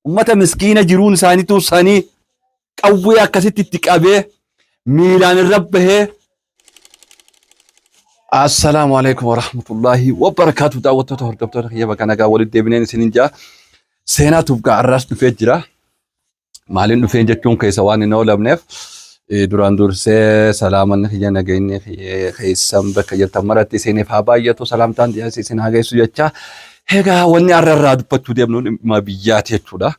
Ummata miskiina jiruun isaanii tursanii qawwee akkasitti itti qabee miilaan irra bahee Assalaamu alaikum warahmatullaahi wabarakaatu daawwattoota hordoftoota kiyya bakka nagaa walitti deebineen isinin jaa seenaa tuubgaa arraas dhufee jira maaliin dhufeen jechuun keessa waan hin oolamneef eh, duraan dursee salaamanni kiyya nageenyi kiyya keessan bakka jirtan maratti isiniif haa baay'atu salaamtaan dhiyaas isin haa geessu jecha Egaa wanni har'a irraa dubbachuu deemnu dhimma biyyaati jechuudha.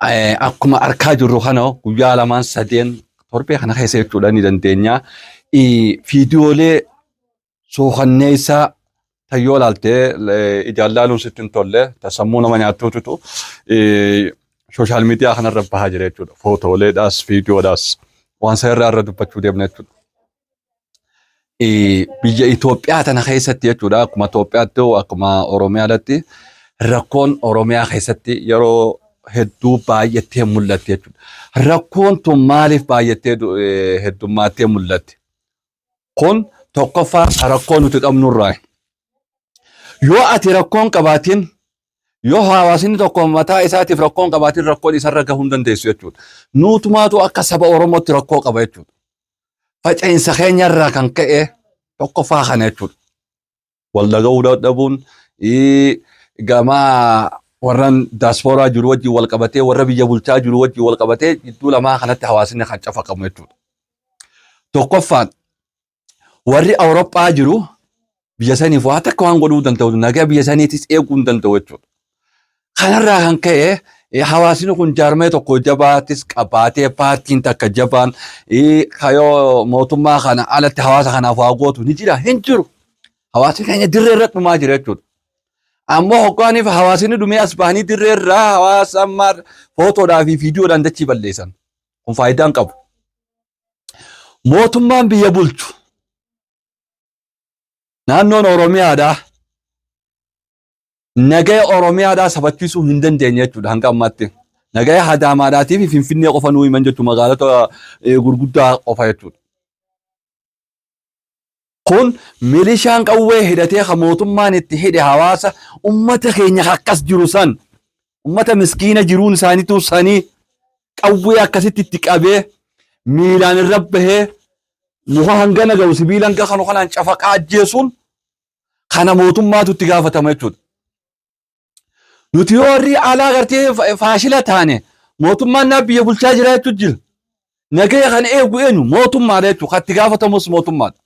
Eh, Akkuma arkaa jirru kana guyyaa lamaan sadeen torbee kana keessa jechuudha ni dandeenya. Eh, Viidiyoolee suukanneessaa tan yoo ilaalte eh, ijaan ilaaluun sitti hin tolle tan sammuu nama nyaattuutu sooshaal miidiyaa kanarra bahaa jira jechuudha. Footooleedhaas viidiyoodhaas waan sana irraa irra dubbachuu deemna jechuudha. eh, biyya Itoophiyaa tana keessatti jechuudha akkuma Itoophiyaatti hoo akkuma Oromiyaadatti rakkoon Oromiyaa keessatti yeroo hedduu baay'attee mul'atti jechuudha. Rakkoon tun maaliif baay'attee du- eh, heddummaattee mul'atti? Kun tokkoffaa rakkoo nuti qabnurraa. Yoo ati rakkoon qabaatiin yoo hawaasni tokko mataa isaatiif rakkoon qabaatiin rakkoon isarra gahuu hin dandeessu jechuudha. Nuutumaatu akka saba Oromootti rakkoo qaba jechuudha. faca'insa keenya irraa kan ka'e tokkoffaa kana jechuudha. Wal dhaga'uu dadhabuun gama warran daaspooraa jiru wajjin wal qabatee warra biyya bulchaa jiru wajjin wal qabatee jidduu lamaa kanatti hawaasni kan cafaqamu jechuudha. Tokkoffaan warri Awurooppaa jiru biyya saniif waa takka waan godhuu danda'u nagaa biyya saniitis eeguu hin danda'u jechuudha. Kanarraa kan ka'e eh, hawaasni kun jaarmee tokko jabaatis qabaatee paartiin takka jabaan eh, kayoo mootummaa kana alatti hawaasa kanaaf waa gootu ni jira hin jiru. Hawaasni keenya dirree irratti dhumaa jira jechuudha. Ammoo hoggaaniif hawaasni dhumee as bahanii dirree irraa hawaasa ammaa footoodhaa fi viidiyoodhaan dachii balleessan. Kun faayidaa hin qabu. Mootummaan biyya bulchu Naannoon Oromiyaadhaa nagaya Oromiyaadhaa sabachiisuu hin dandeenye jechuudha hanga ammaatti. Nagaya Hadaamaadhaatii fi Finfinnee qofa nuu himan jechuudha magaalota gurguddaa qofa jechuudha. Kun milishaan qawwee hidhatee kan mootummaan itti hidhe hawaasa ummata keenya akkas jiru san ummata miskiina jiruun isaaniitu sanii qawwee akkasitti itti qabee miilaan irra bahee muka hangana ga'u sibiila hanga kanu kanaan cafaqaa ajjeesuun kana mootummaatu itti gaafatama jechuudha. Nuti yoo warri alaa gartee fa- faashila taane mootummaan naa biyya bulchaa jira jechuun jira. Nagaya kan eegu eenyu mootummaadha jechuudha. Kan itti gaafatamus mootummaadha.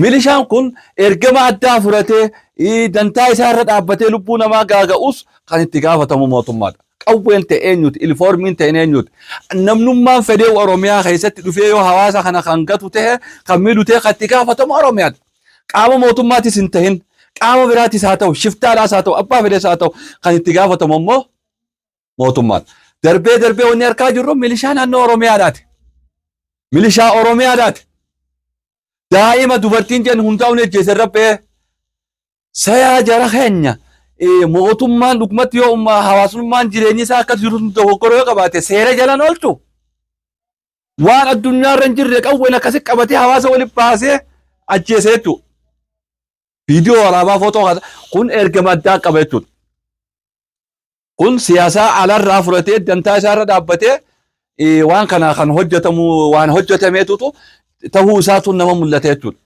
Milishaan kun ergama addaa fudhatee ii, dantaa isaa irra dhaabbatee lubbuu namaa gaaga'us kan itti gaafatamu mootummaadha. Qawween ta'e eenyuti? Ilifoormiin ta'e eenyuti? Namnummaan fedhee Oromiyaa keessatti dhufee yoo hawaasa kana kan gatu ta'e kan miidhu ta'e kan itti gaafatamu Oromiyaadha. Qaama mootummaatis hin ta'in qaama biraatis haa ta'u shiftaadhaas haa ta'u abbaa fedhees haa ta'u kan itti gaafatamu immoo mootummaadha. Darbee darbee wanni harkaa jirru milishaa naannoo Oromiyaadhaati. Milishaa Oromiyaadhaati. Daa'ima dubartiin jennu hundaa'uun ejjeese rabbee Sayaa jara keenya mootummaan dhugumatti yoo ummaa hawaasummaan jireenyi isaa akka jiru dogoggora yoo qabaate seera jalan oolchu waan addunyaa irra hin jirre qawween akkasi qabatee hawaasa wali baasee ajjeese jechuudha. Viidiyoo waraabaa footoo kana kun ergama addaa qaba jechuudha. Kun siyaasaa alarraa fudhatee dantaa isaarra dhaabbatee waan kana kan hojjetamu waan hojjetameetutu ta'uu isaatu nama mul'ata jechuudha.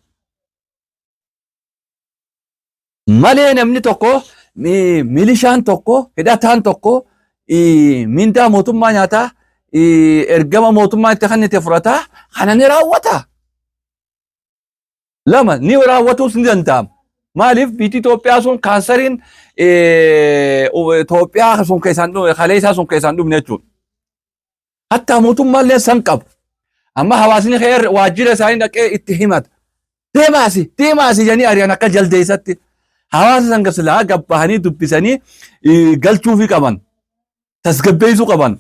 malee namni tokko mi- milishaan tokko hidhataan tokko ii, mindaa mootummaa nyaataa ii, ergama mootummaa itti kennite fudhataa kana ni raawwata. Lama ni raawwatuus ni danda'ama. Maaliif biyyi Itoophiyaa sun kaansariin ee, u- Itoophiyaa sun keessaan dhume kaleessaa sun keessaan dhumne jechuudha. Hattaa mootummaallee san qabu. Amma hawaasni kee waajjira isaanii dhaqee itti himata. Deemaasi, deemaasi jedhanii ari'an akka jaldeessatti. Hawaasa san silaa gabbahanii dubbisanii galchuufii qaban. Tasgabbeessuu qaban.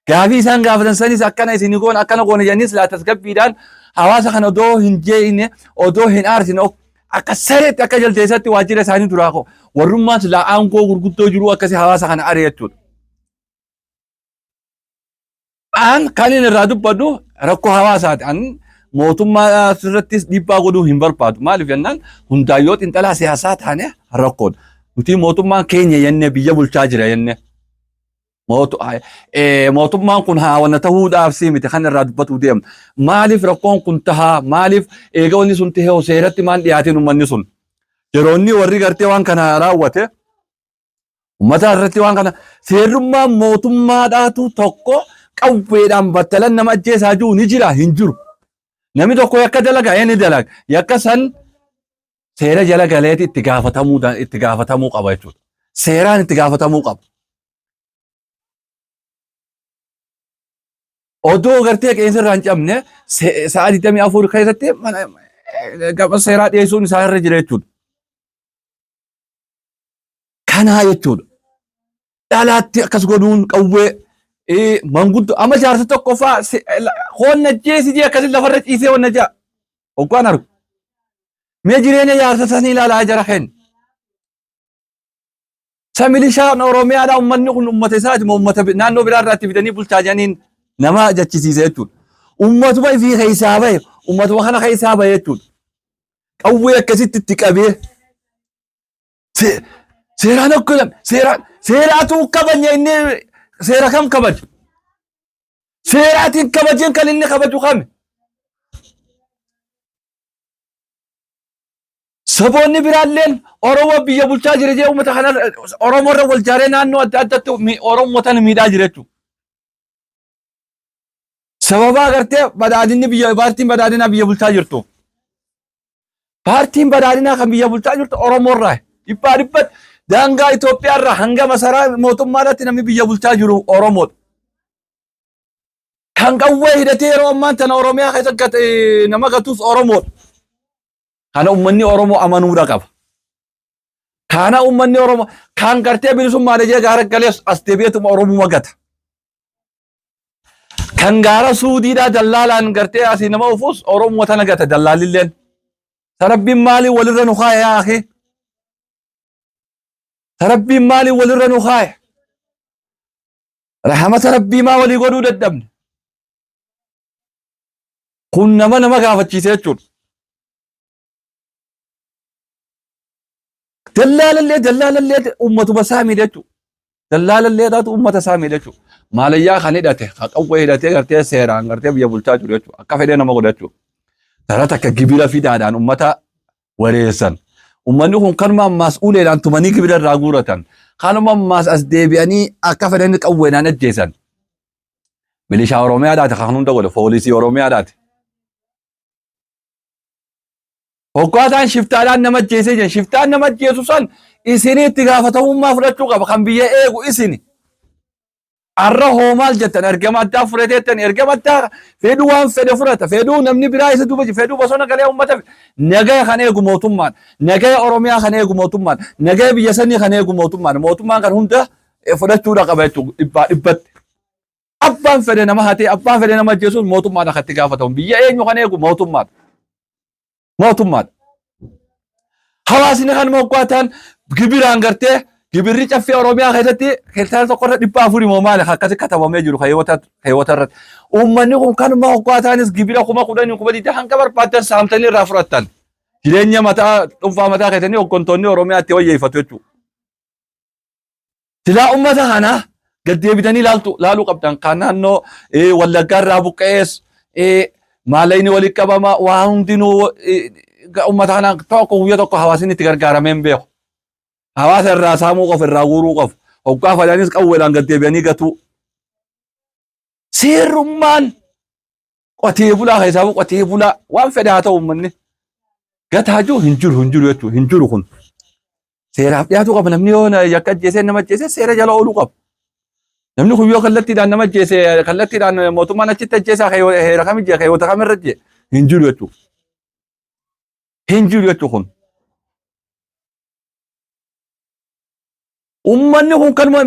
Gaafii isaan gaafatan sanis akkana isin goona akkana goona jedhanii silaa tasgabbiidhaan hawaasa kana odoo hin jeeqne odoo hin aarsine akka sareetti akka jaldeessatti waajjira isaanii duraa koo warrummaan silaa aangoo gurguddoo jiru akkasii hawaasa kana ari'achuudha. An kan inni irraa dubbadhu rakkoo hawaasaati. An mootummaa irrattis dhiibbaa godhuu hin barbaadu. Maaliif jennaan hundaa yoo xinxalaa siyaasaa taane rakkoodha. Nuti mootummaan keenya jennee biyya bulchaa jira jennee. Mootu- ay- eh, Mootummaan kun haawwana tahuudhaaf si miti kan irraa dubbatuu deemu. Maaliif rakkoon kun tahaa? Maaliif eega wanni sun tahee seeratti maan dhiyaatiin uummanni sun? Yeroo inni warri gartee waan kana raawwate Ummata irratti waan kana seerrummaan mootummaadhaatu tokko qawweedhaan battalan nama ajjeesaa jiru ni jira hin jiru. Namni tokko yakka dalaga ee ni dalaga. Yakka san seera jala galeeti itti gaafatamuu da- itti gaafatamuu qaba jechuudha. Seeraan itti gaafatamuu qaba. Odoo gartee qeensa irraa hin cabne se- sa'a 24 keessatti mana- gama seeraa dhiyeessuun isaa irra jira jechuudha. Kanaa jechuudha. Dhalaatti akkas godhuun qawwee eh, manguddoo amma jaarsa tokko faa hoonna jeesi jee akkasi lafarra ciisee wanna jaa. Oggaan argu. Mee jireenya jaarsa sanii ilaalaa jara kenna. Sa milishaan Oromiyaadhaa uummanni kun uummata isaati moo uummata bi- naannoo biraa irraatti fidanii bulchaa jiraniin nama jechisiisa jechuudha. Uummatuma ifii keessaa bahe uummatuma kana keessaa bahe jechuudha. qawwee akkasitti itti qabee se- seeraan akka jedhan seeraa seeraatu kabanya inni seera kam kabaju seeraatiin kabajeen kan inni kabaju kami saboonni biraalleen oromoo biyya bulchaa jira jee uummata kana oromoo irra wal jaaree naannoo adda addaatti mi- oromoota miidhaa jira jechuudha. Sababa agartee badhaadinni biyya paartiin badhaadinaa biyya bulchaa jirtuuf. Paartiin badhaadinaa kan biyya bulchaa jirtu Oromoo irraa dhibbaa dhibbatti daangaa Itoophiyaa irraa hanga masaraa mootummaa irratti namni biyya bulchaa jiru Oromoodha. Kan qawwee hidhatee yeroo ammaan tana Oromiyaa keessa gat- eh, nama gatus Oromoodha. Kana uummanni Oromoo amanuudha qaba. Kana uummanni Oromoo kan gartee bilisummaa dhajee gaara galees as deebi'eetuma Oromuma gata. Kan gaara suudiidhaa dallaalaan gartee asii nama ofuus Oromoo tana gata dallaalilleen. Sarabbiin maaliin walirra nu kaaya yaa akee? Sarabbiin maaliin walirra nu kaaya? Rahamata rabbii maa walii godhuu dadhabne? Kun nama nama gaafachiise jechuudha. Dallaalallee dallaalallee ummatuma isaa miidha jechuudha. Dallaalallee taatu ummata isaa miidha jechuudha. Maalayyaa kan hidhate, kan qawwee hidhatee gartee seeraan gartee biyya bulchaa jiru jechuudha. Akka fedhee nama godha jechuudha. Dhala takka gibira fidaadhaan ummata wareessan. Ummanni kun kanuma ammaas uleedhaan tumanii gibira irraa guuratan. Kanuma ammaas as deebi'anii akka fedhan qawweedhaan ajjeesan. Milishaa Oromiyaadhaati kan hunda godhe, poolisii Oromiyaadhaati. Hoggaa isaan shiftaadhaan nama ajjeesee jiran shiftaan nama ajjeesu san isinii itti gaafatamummaa fudhachuu qaba kan biyya eegu isini. Arra hoo maal jettan ergama addaa fudhateettan ergama addaa fedhuu waan fedhe fudhata fedhuu namni biraa isa duuba jiru fedhuu bosona galee uummata nagaya kan eegu mootummaan nagaya Oromiyaa kan eegu mootummaan nagaya biyya sanii kan eegu mootummaan mootummaan kan hunda fudhachuudha qaba jechuudha dhibbaa dhibbatti. Abbaan fedhe nama hatee abbaa fedhe nama ajjeesuun mootummaadha kan itti gaafatamu. Biyya eenyu kan eegu mootummaadha. Mootummaadha. Hawaasni kan moggaataan gibiraan gartee gibirri caffee Oromiyaa keessatti hektaara tokko irra dhibba afurii moo maali kan akkasi katabamee jiru keewwata keewwata irratti. Uummanni kun kan moggaataanis gibira kuma kudhanii kuma digdama hanga barbaadan saamtanii irraa fudhattan. Jireenya mataa dhuunfaa mataa keessanii hooggantoonni Oromiyaa itti wayyeeffatu jechuudha. Silaa ummata kanaa gad deebitanii laaltu laaluu qabdan kan naannoo eh, wallaggaa irraa buqqa'ees eh, maalayni walitti qabama waa hundinuu eh, ga- ummata kanaan tokko guyyaa tokko hawaasni itti gargaaramee hin beeku. Hawaasa irraa saamuu qofa irraa guuruu qofa. Hoggaa fadaanis qawweedhaan gad deebi'anii gatuu. Seerummaan qotee bulaa keessaa qotee bulaa waan fedha haa ta'u uummanni gataa jiru hin jiru hin jiru jechuudha hin jiru kun seeraaf dhiyaatu qaba namni yoo na- yakka ajjeesee nama ajjeesee seera jala ooluu qaba. Namni kun yoo kallattiidhaan nama ajjeese kallattiidhaan mootummaan achitti ajjeesaa keeyo- heera kam ijje keeyoota kam irra ijje hin jiru jechuudha. Hin jiru jechuudha kun. Uummanni kun kanuma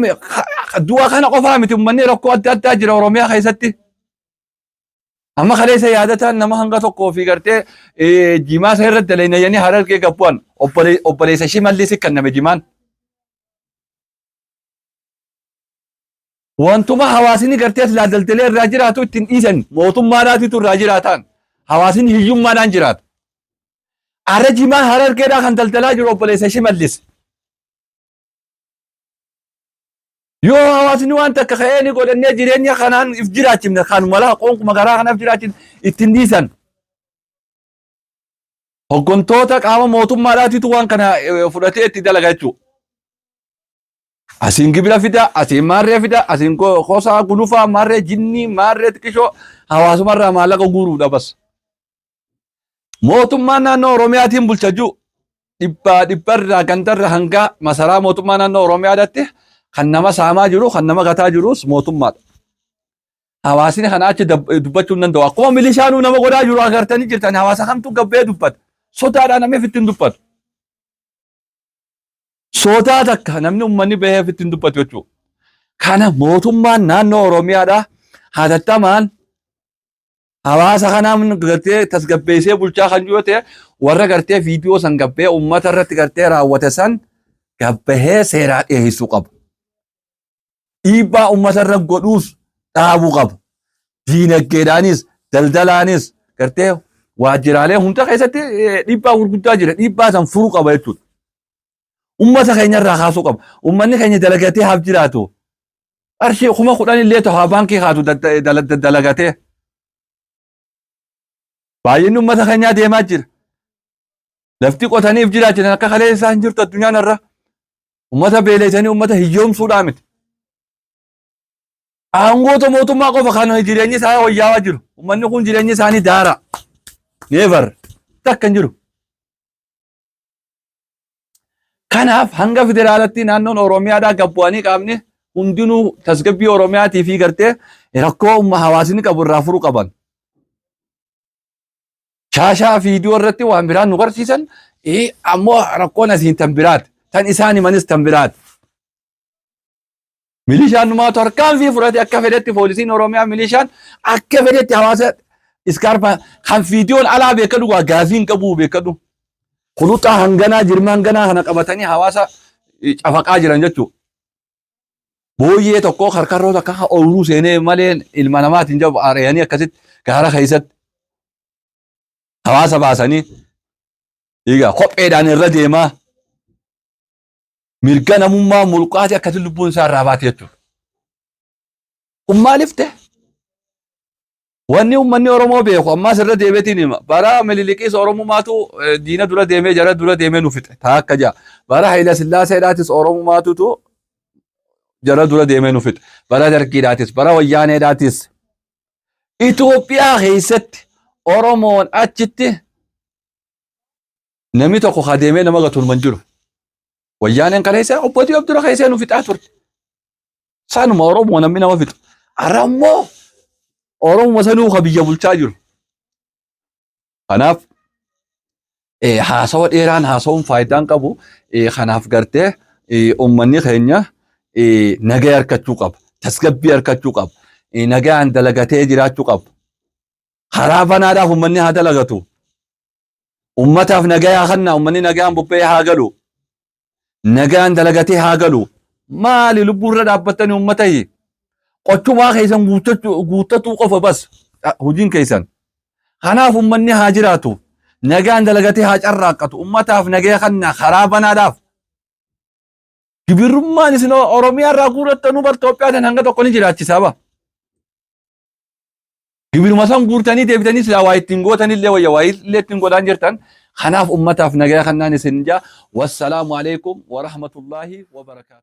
du'a kana qofaa miti uummanni rakkoo adda addaa jira Oromiyaa keessatti. Amma kaleessa yaadataan nama hanga tokkoo fi gartee jimaa isaa irratti daleenya yanii harargee gabbu'an obboleessa ishii mallii si kanname jimaan. Wantuma hawaasni gartee as laaldaltelee irraa jiraatu ittiin dhiisan mootummaadhaatitu irraa jiraataan hawaasni hiyyummaadhaan jiraata. Ara jimaa harargeedhaa kan daldalaa jiru obboleessa ishii mallise. yoo hawaasni waan takka ka'ee ni godhannee jireenya kanaan if jiraachifne kan mala qonkuma garaa kanaaf jiraachifne ittiin dhiisan. Hoggantoota qaama mootummaadhaatitu waan kana eh, fudhatee itti dalaga jechuudha. Asiin gibira fida, asiin maarree fida, asiin ko- kosaa gulufaa, maarree jinnii, maarree xiqishoo hawaasumarraa maallaqa guuruudha bas. Mootummaan naannoo Oromiyaatiin bulcha jiru dhibbaa dhibbarraa gandarra hanga masaraa mootummaa naannoo Oromiyaadatti kan nama saamaa jiru kan nama gataa jirus mootummaadha. Hawaasni kana achi dab- dubbachuu hin danda'u. Akkuma milishaanuu nama godhaa jiru agartanii jirtan hawaasa kamtu gabbee dubbata. Sodaadhaan namni ofitti hin dubbatu. Sodaa takka namni uummanni bahee ofitti hin dubbatu jechuudha. Kana mootummaan naannoo Oromiyaadhaa hatattamaan hawaasa kanaa gartee tasgabbeessee bulchaa kan jiru ta'e warra gartee viidiyoo san gabbee uummata irratti gartee raawwate san gabbahee seeraa dhiyeessuu qaba. Dhiibbaa uummata irra godhuus dhaabuu qaba. Diinagdeedhaanis daldalaanis gartee waajjiraalee hunda keessatti dhiibbaa gurguddaa jira. Dhiibbaa san furuu qaba jechuudha. Uummata keenya irraa kaasuu qaba. Uummanni keenya dalagatee haaf jiraatu. qarshii kuma kudhan illee tahaa baankii kaatu dalagatee baay'inni uummata keenyaa deemaa jira. Lafti qotaniif jiraachisan akka kalee isaa hin jirtu addunyaan irra uummata beeleessanii uummata hiyyoomsuudhaa miti. Aangoota mootummaa qofa kan jireenyi isaa wayyaawaa jiru. Uummanni kun jireenyi isaanii daara. Neevar takka hin jiru. Kanaaf hanga federaalatti naannoon Oromiyaadhaa gad bu'anii qaamni hundinuu tasgabbii Oromiyaatii fi gartee rakkoo umma hawaasni qabu irraa furuu qaban. Shaashaa viidiyoo irratti waan biraan nu garsiisan eh, ammoo rakkoon asiin tan biraati. Tan isaan himanis tan biraati. Milishaan numaa tarkaanfii fudhate akka fedhetti poolisiin Oromiyaa milishaan akka fedhetti hawaasa iskaarpaa kan fiitiyoon alaa beekadhu waa gaafii hin qabu beekadhu. Kuluxaa hanganaa jirma hanganaa kana qabatanii hawaasa eh, cafaqaa jiran jechuudha. Booyyee tokkoo karkarroo takka kan ooluu seenee malee ilma namaatiin jabu ari'anii akkasitti gaara keessatti hawaasa baasanii egaa kopheedhaan irra deemaa mirga namummaa mulqaati akkati lubbuun isaa irraa baate jechuudha. Kun maaliif ta'e? Wanni uummanni Oromoo beeku ammaas irra deebiitiin hima. Bara Minilikiis Oromumaatu eh, diina dura deemee jara dura deemee nu fixe. Taa akka ja'a. Bara Hayila Sillaaseedhaatis Oromumaatutu jara dura deemee nu fixe. Bara Dargiidhaatis, bara Wayyaaneedhaatis. Itoophiyaa keessatti Oromoon achitti Namni tokko haa deemee nama gatuun man jiru. Wayyaaneen kana isa obbo Diyob dura keessee nu fixaa turte. Saanuma Oromoo namni nama fixu. Har'a immoo Oromoo sanuu ka biyya bulchaa jiru. Kanaaf eh, haasawa dheeraan haasawuun faayidaan qabu eh, kanaaf gartee eh, uummanni keenya eh, nagaa harkachuu qaba. Tasgabbii harkachuu qaba. Eh, Nagaan dalagatee jiraachuu qaba. Karaa banaadhaaf uummanni haa dalagatu. Ummataaf nagayaa kanna ummanni nagaan bobba'ee haa galu. Nagaan dalagatee haa galu. Maali lubbuu irra dhaabbattani ummatahi? Qochumaa keessan guuttatuu qofa bas hojiin keessan. Kanaaf ummanni haa jiraatu. Nagaan dalagatee haa carraaqqatu. Ummataaf nagaya kanna karaa banaadhaaf. Gibirrummaan isin Oromiyaa irraa guurrattanu bar Itoophiyaa tan hanga tokko ni jiraachisaa ba. Gibiruma san guurtanii deebitanii silaa waa ittiin gootanillee wayya waa illee ittiin godhaan jirtan kanaaf ummataaf nagaya kannaan isin jaa wassalaamu alaikum warahmatullaahi wabarakaatu.